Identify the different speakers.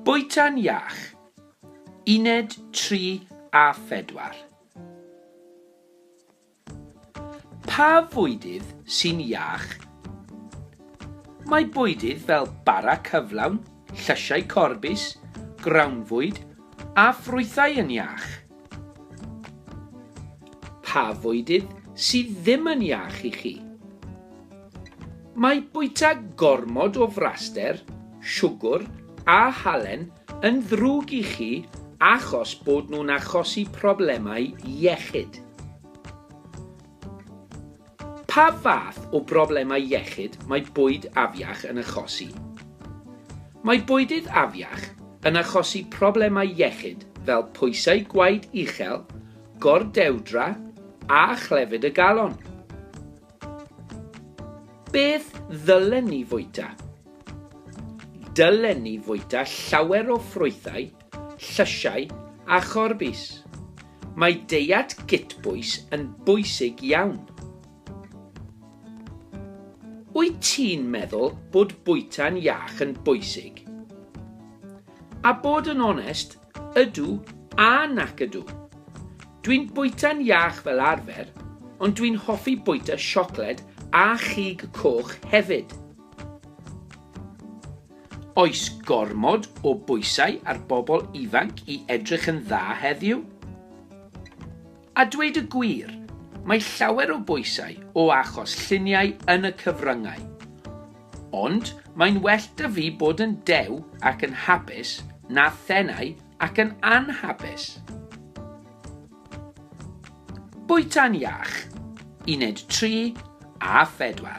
Speaker 1: Bwyta'n iach. Uned 3 a 4. Pa fwydydd sy'n iach? Mae bwydydd fel bara cyflawn, llysiau corbis, grawnfwyd a ffrwythau yn iach. Pa fwydydd sydd ddim yn iach i chi? Mae bwyta gormod o fraster, siwgr a halen yn ddrwg i chi achos bod nhw'n achosi problemau iechyd. Pa fath o broblemau iechyd mae bwyd afiach yn achosi? Mae bwydydd afiach yn achosi problemau iechyd fel pwysau gwaed uchel, gordewdra a chlefyd y galon. Beth ddylen ni fwyta? Dylen ni fwyta llawer o ffrwythau Llysiau a chorbis. Mae deiet gytbwys yn bwysig iawn. Wyt ti'n meddwl bod bwyta'n iach yn bwysig? A bod yn onest, ydw a nac ydw. Dwi'n bwyta'n iach fel arfer, ond dwi'n hoffi bwyta siocled a chig coch hefyd. Oes gormod o bwysau ar bobl ifanc i edrych yn dda heddiw? A dweud y gwir, mae llawer o bwysau o achos lluniau yn y cyfryngau. Ond mae'n well 'da fi bod yn dew ac yn hapus na thenau ac yn anhapus. Bwyta'n iach, uned 3 a 4.